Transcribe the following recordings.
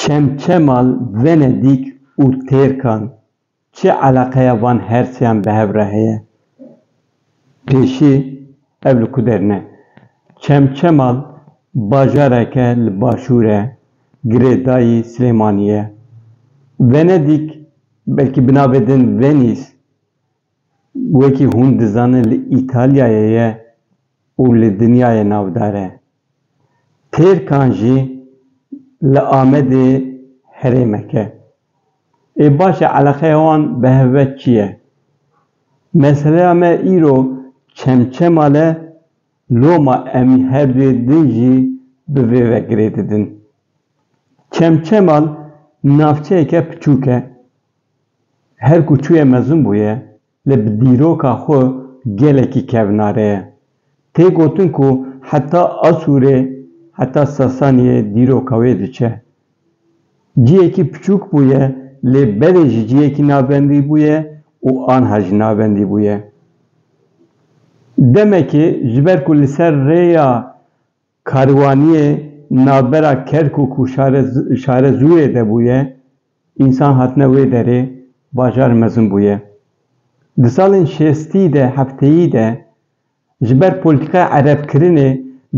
Çemçemal, Venedîk û Têrkan çi eleqeya van hersiyan bi hev re heye? Pêşî, Ev li ku der ne. Çemçemal bajarek e li başûr e, girêdayî Silêmaniyê ye. Venedîk, belkî bi navê din Venîs, Wekî hûn dizanin li Îtalyayê ye û li dinyayê navdar e. Têrkan jî li Amedê herêmek e. Ê baş e eleqeya wan bi hev ve çi ye? Meseleya me îro Çemçemal e, loma em herduyê din jî bi vê ve girê didin. Çemçemal navçeyeke piçûk e, Her ku çûye mezin bûye, lê bi dîroka xwe gelekî kevnare ye. Tê gotin ku heta Asûrê, heta Sasaniyê dîroka wê diçe. Ciyekî piçûk bûye, lê belê ji ciyekî navbendî bûye û anha jî navbendî bûye. Demekê ji ber ku li ser rêya karwaniyê navbera Kerkûk û Şarezûyê de bûye, Însan hatine wê derê bajar mezin bûye. Di salên şêstî de hefteyî de ji ber polîtîkaya erebkirinê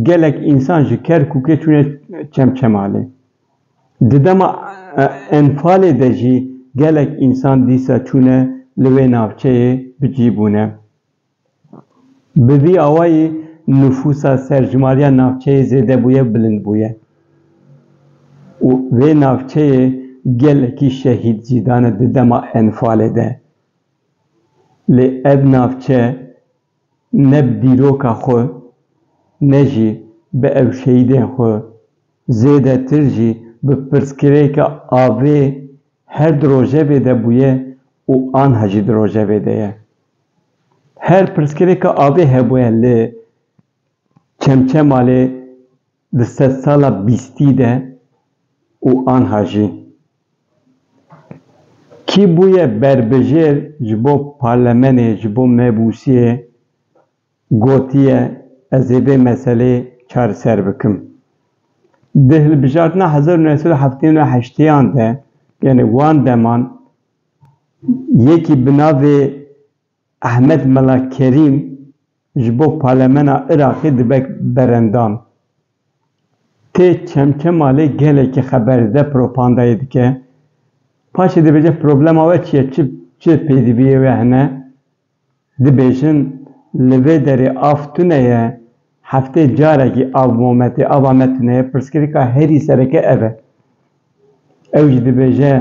gelek însan ji Kerkûkê çûne Çemçemalê. Di dema enfalê de jî gelek însan dîsa çûne li wê navçeyê bi cî bûne. Bi vî awayî nifûsa serjimariya navçeyê zêde bûye, bilind bûye û vê navçeyê gelekî şehîd jî dane di dema Enfalê de. Lê ev navçe ne bi dîroka xwe ne jî bi ev şehîdên xwe zêdetir jî bi pirsgirêka avê her di rojevê de bûye û anha jî di rojevê de ye. Her pirsgirêka avê hebûye li Çemçemalê di sedsala bîstî de û anha jî. Kî bûye berbijêr ji bo parlemenê, ji bo mebûsiyê gotiye ez ê vê meseleyê çareser bikim. Di hilbijartina hezar û neh sed û heftê û neh heştêyan de, yanî wan deman, Yekî bi navê Ehmed Mela Kerîm ji bo parlemena Iraqê dibe berendan. Tê Çemçemalê gelekî xeber dide, propandayê dike. Paşê dibêje problema we çi ye, çi pêdiviyê we hene. Dibêjin li vê derê av tune ye, heftê carekî av mome tê, ava me tune ye, pirsgirêka herî sereke ev e. Ew jî dibêje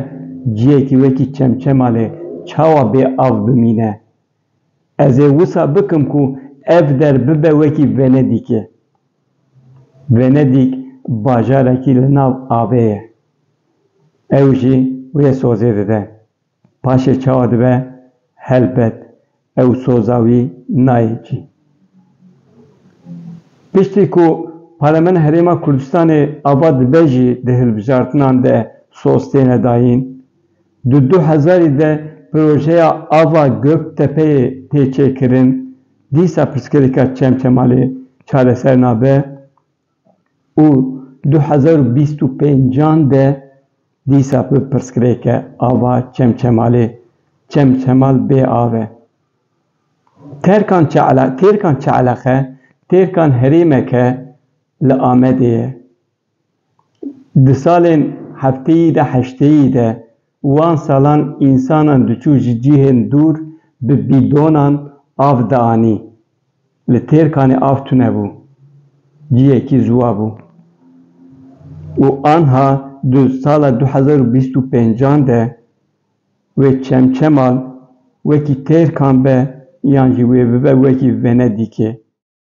ciyekî wekî Çemçemalê çawa bê av bimîne? Ez ê wisa bikim ku ev der bibe wekî Venedîkê. Venedîk bajarekî li nav avê ye. Ew jî wê sozê dide. Paşê çawa dibe helbet ew soza wî nayê cî. Piştî ku Parlemena Herêma Kurdistanê ava dibe jî di hilbijartinan de soz têne dayîn. Di du hezarî de projeya ava Göktepeyê tê çêkirin, dîsa pirsgirêka Çemçemalê çareser nabe. û du hezar û bîst û pênc an de dîsa bi pirsgirêke ava Çemçemalê Çemçemal bê av e. Terkan Çe'la Têrkan Çe'lexe têrkan herêmeke li Amedê ye. Di salên hefteyî de heşteyî de Wan salan însanan diçû ji cîhên dûr bi bîdonan av dianî. Li Têrkanê av tune bû. Ciyekî ziwa bû. Û anha di sala du hezar û bîst û pêncan de wê çemçemal wekî Têrkan be yan jî wê bibe wekî Venedîkê.